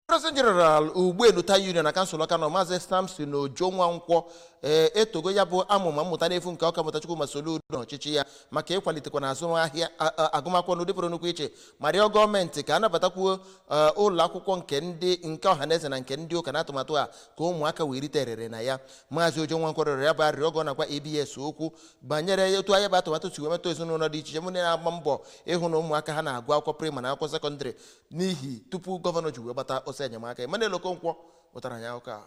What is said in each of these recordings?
President General Ugbenu Town Union na kansụl Ọka North Maazị Samson Ojo Nwankwọ ee etogo ya bụ amụma mmụta n'efu nke Ọkammụta Chukwuma Soludo na ọchịchị ya maka ịkwalitekwa na azụmahịa a- a- agụmakwụkwọ n'ụdị pụrụ nnukwu iche ma rịọ gọọmenti ka a nabatakwuo ee, ụlọ akwụkwọ nke ndị nke ọhaneze na nke ndị ụka n'atụmatụ a ka ụmụaka wee rite erere na ya Maazị Ojo Nwankwọ rịọrọ ya bụ arịrịọ oge ọ na-agwa ABS okwu banyere otu ya bụ atụmatụ si wee metụ ezinụlọ dị iche iche mụ na-agba mbọ ịhụ na ụmụaka ha na-agụ akwụkwọ praịmarị na akwụkwọ sekọndịrị n'ihi tupu gọvanọ ji wee gbata ọsọ enyemaka Emmanuel Okonkwo wetara anyị akụkọ a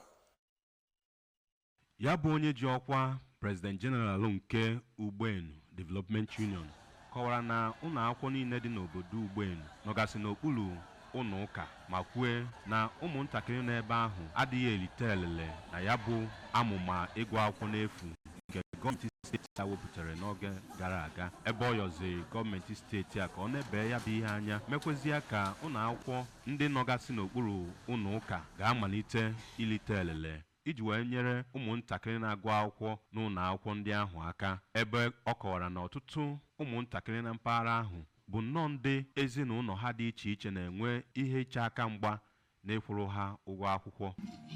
ya bụ onye ji ọkwa president general nke Ugbenu Development Union kọwara na ụlọ akwụkwọ niile dị n'obodo Ugbenu nọgasị n'okpuru ụlọ ụka ma kwue na ụmụntakịrị nọ ebe ahụ adịghị erite elele na ya bụ amụma ịgụ akwụkwọ n'efu nke gọọmenti steeti a wepụtara n'oge gara aga ebe ọ yọziri gọọmenti steeti a ka ọ nebee ya bụ ihe anya mekwezie ka ụlọ akwụkwọ ndị nọgasị n'okpuru ụlọ ụka ga-amalite ilite elele iji wee nyere ụmụntakịrị na-agụ akwụkwọ n'ụlọ akwụkwọ ndị ahụ aka ebe ọ kọwara na ọtụtụ ụmụntakịrị na mpaghara ahụ bụ nnọọ ndị ezinụlọ ha dị iche iche na-enwe ihe iche aka mgba na ịkwụrụ ha ụgwọ akwụkwọ.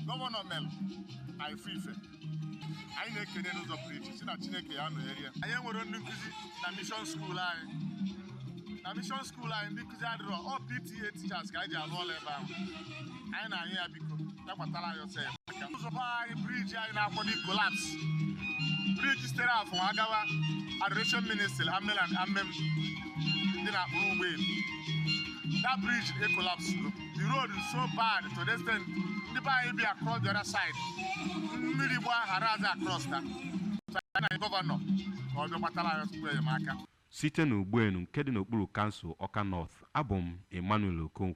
Gọvanọ mere na ife ife anyị na-ekene n'ụzọ pụrụ iche sị na Chineke ya-anọnyere ya. Anyị enwerọ ndị nkụzi na mishọn skuul anyị na mishọn skuul anyị ndị nkụzi adịrọ ọ PTA teachers ka anyị ji alụ ọlụ ebe ahụ anyị na-ayọ ya biko ya gbatara anyị ọsọ ya ụzọ be anyị briji anyị na-akwado kolaps briji sitere Afọ agawa adoration ministry amen and amen dị na akpụrụ Ugbenu that bridge ekolaps the road is so bad to the extent ndị be anyị bi across the other side mmiri gba hara aza cross ta so anyị na-ayọ gọvanọ ka ọ bịa gbatara anyị ọsọ enyemaka site n'Ugbenu nke dị n'okpuru kansụl Ọka North abụ m Emmanuel Okonkwo